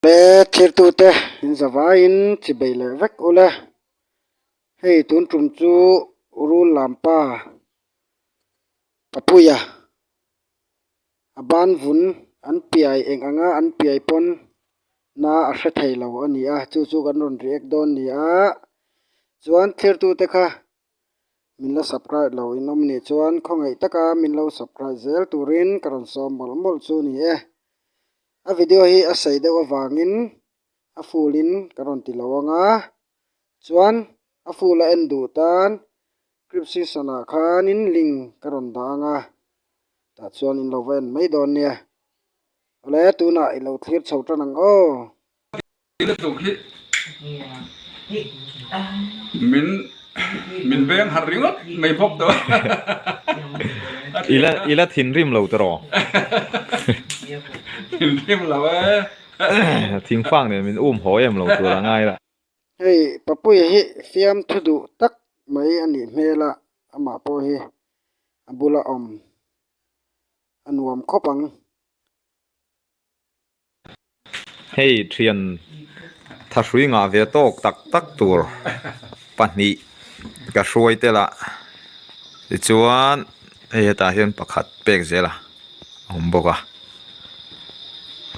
Awle thirtute in zavaiin chibei leh vek ula hei tun tum chu rul lam pa Papuia a ban vun an piai eng anga an piai pawn na a hre theilo a ni a chu chu kan rawn ri ek dawn ni a chuan thirtute kha. Min la subcribe lo in awm ni chuan khawngaih taka min lo subcribe zel turin ka rawn sawm mawlh mawlh chu ni e. A video hi a sei deuh avangin a full in ka rawn ti lo ang a, chuan a full a en duh tan cripscription ah khanin link ka rawn dah ang a, tah chuan in lo va en mai dawn nia. Awle tunah i lo thlir chho tan ang aw. Ih lutuk hi min min veng harh ringawt mai bawk tawh a ti a. I la thinrim lo tawh raw. Thinrim lo e. Thing fak nen min um haw em lo tur a ngai la. Hei Papui hi fiam thu duh tak mai a nih hmel a, amah pawh hi a bula awm a nuam khawp ang. Hei thian tha hrui ngah ve tawk tak tak tur pahnih ka hruai tel a tichuan hei hetah hian pakhat pek zel a awm bawk a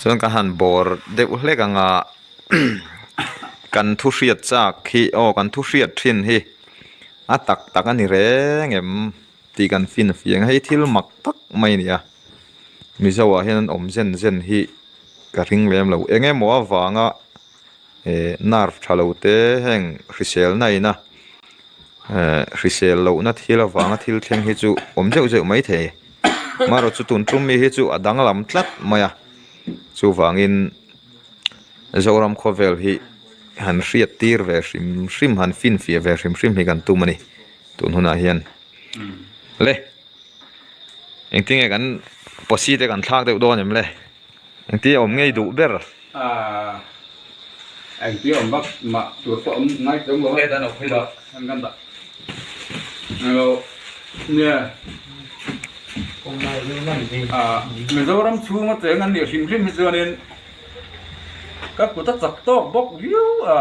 chuan ka han bawr deuh hlek ang a kan thu hriat chak hi aw kan thu hriat thin hi a tak tak a ni reng em. Tih kan fian fih ang. Hei thil mak tak mai a ni a. Mizo ah hian an awm zen zen hi ka hring lem lo. Eng nge maw a vang a eh nerve tha lo te heng hrisel na ina eh hrisel loh na thil avang a thil thleng hi chu awm zeuh zeuh mai thei. Maherawh chu tun tum mi hi chu a dang lam tlat mai a. Chu vang in Zoram khaw vel hi han hriat tir ve hrim hrim han fian fiah ve hrim hrim hi kan tum a ni. Tun hunah hian le engtinge kan posi te kan thlak deuh dawn em le? Engti awm ngei duh ber. Engti awm vak mah tur pawh awm ngai tel maw? Heta nawk phei loh a kan dah englo nia. Mizoram chhung ateng an nih hrim hrim hi chuanin ka kuta chak tawk bawk viau a.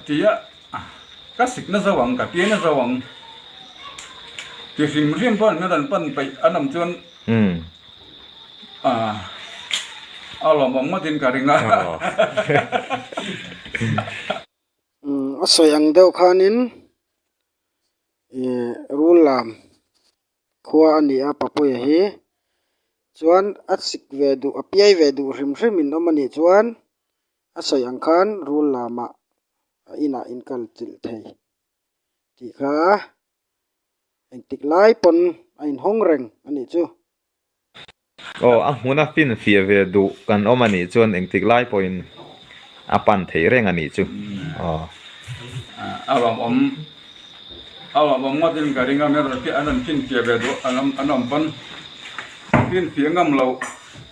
Tih a ka sik na zo ang ka tia na zo ang ti hrim hrim pawh an han pan peih a nawm chuan a lawm awm ngawt in ka ring a a sawi ang deuh khan in ih rul lam khua a ni a papuia hi chuan a sik ve duh a piai ve duh hrim hrim in awm a nih chuan. A sawi ang khan rul lamah a inah in kal chilh thei tih kha eng tik lai pawn a inhawng reng a nih chu. Aw, a hmuna finfiah ve duh kan awm a nih chuan eng tik lai pawhin a pan theih reng a nih chu. Aw. A rawn awm, a rawn awm ngawtin ka ring a, min rawn, an rawn finfiah ve duh kan awm, an awm pawn, finfiah ngam loh.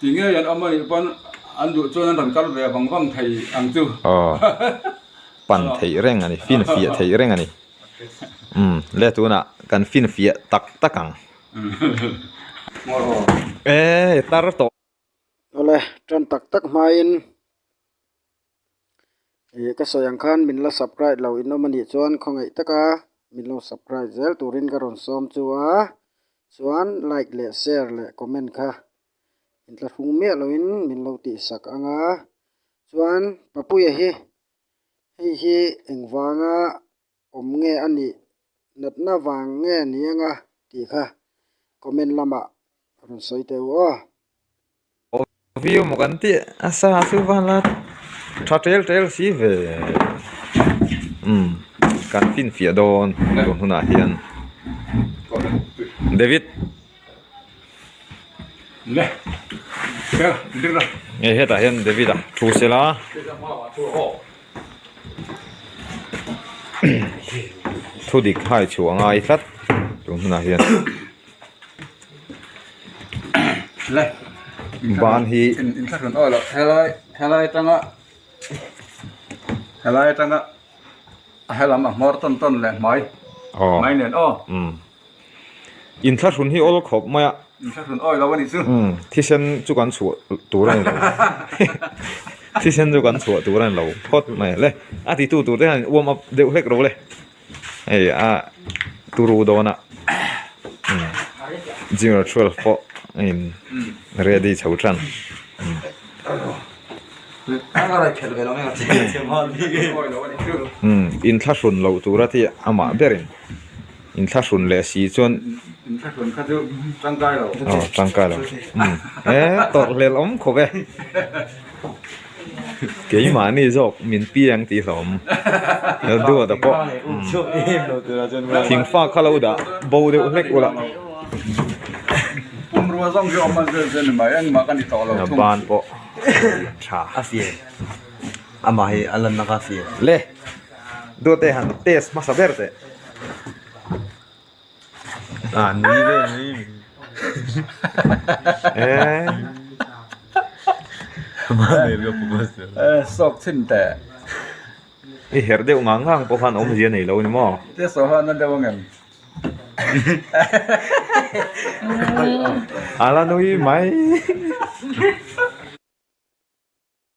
Ti ngei an awm a nih pawn an duh chuan an rawn kal ve vang vang thei ang chu. Aw pan theih reng a ni fin fiah theih reng a ni umm le tunah kan fin fiah tak tak ang ehh tar tawh. Awle tan tak tak hmain ih ka sawi ang khan min la surprise lo in awm a nih chuan khawngaih tak a min lo surprise zel turin ka rawn sawm chu a chuan like leh share leh comment kha intla hung miah lo in min lo tih sak ang a chuan papuia hi hei hi engvanga-- awm nge a nih natna vang nge ni ang a tih kha comment lamah rawn sawi teh u aw. Aw view maw kan tih a sa chu van la tha tel tel si ve umm kan finfiah dawn tun hunah hian David. hetah hian david a thu sel a thu dik thlai chhuah a ngai tlat chu hmunah hian ban hi helai atanga helai atanga a hela a hmawr tawn tawn leh hmai hmai nen aw. In thlahrun hi awl khawp mai a. In thlahrun awi lo a nih chu. Umm thisen chu kan chhuah tur a ni lo thisen chu kan chhuah tur a ni lo phawt mai le a ti tu tur te hian in warm up deuh hlek lo le hei a turu dawn a umm zero twelve pawh a in ready chho than umm in thlahrun loh tur a ti a mah ber in. in thla hrun leh si chuan in thla hrun kha chu tangkai lo aw tangkai lo e tawrh hlel awm khawp e keimahni zawk min pi ang tih hlawm he duat a pawh thingfak kha lo dah bo deuh hlek ula bungrua zawng hi a awm a zel zel ni mai engmah ka ni tawh lo thung a ban pawh a fiam tha a fiam amah hi a lanna kha a fiam le. Dawtei han test hmasa ber teh. Ah, ni ve ni. Eh. Ma nei lo pu bas. Eh, sok chin te. I her deuh ngang ngang pawh khan awm zia nei lo ni maw? Te so han na deuh angem. Ala nui mai.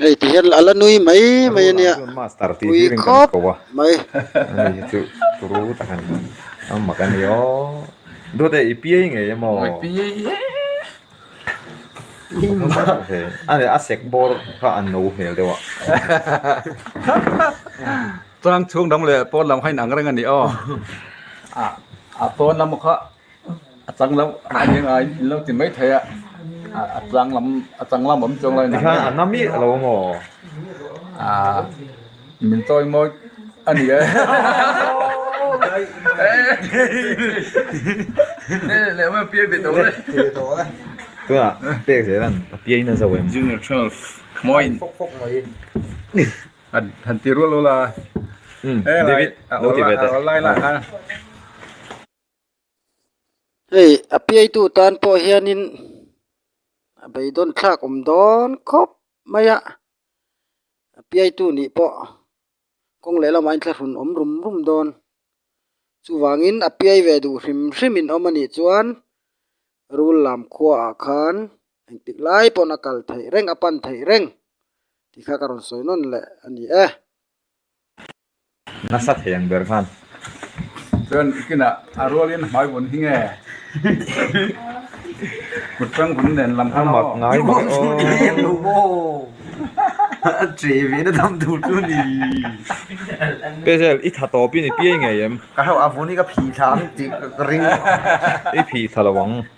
Hei ti hian a la nui mai mai a nia, nui khawp mai. A chang loh a ni anga in lo ti mai thei a, a chang lam a chang lam awm chuang lo inang e. Tikhan a na miah lo maw? Aa min chawi mawi a ni e. Lehma piai ve tawh le. Tunah pek zel an a piai na zo em? Junior Twelve mawi in. Fawk fawk mai in. Han ti rual rual a. David lo ti ve teh. A awlai lah khan. hei a piaitu tan pawh hianin a beidawn thlak awm dawn khawp mai a a piaitu nih pawh kawng leh lamah in thla hrum awm rum rum dawn chuvangin a piai ve duh hrim hrim in awm a nih chuan rul lam khua ah khan engtik lai pawn a kal theih reng a pan theih reng tih kha ka rawn sawi nawn leh a ni e. Nasa theng ber khan. Chuan kinah a rualin hmai vun hi nge? Kut tang vun nen lam khan aw. Ngai ber aw. Em lo bo. A che ve na dam tur chu ni. Pezel i tha tawp i ni piai ngei em? Ka hauh a vun hi ka phih thla ang tih ka ring. I phih thla lo ang.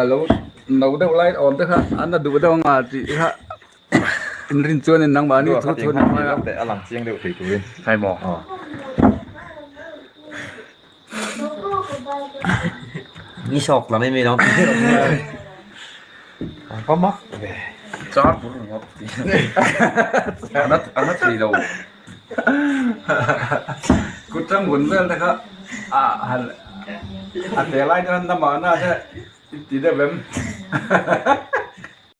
a lo no deuh lai awm te kha an la duh deuh ang a tih te kha in rin chuan in nang mahni thu chhuan in hmaia a lang chiang deuh thei turin hnai maw aw ni sawk la mai mai lo ang pam a char pur ringawt a nat a nat ri lo. Kutram hun vel te kha a te lai chuan na mahna te i ti deuh em?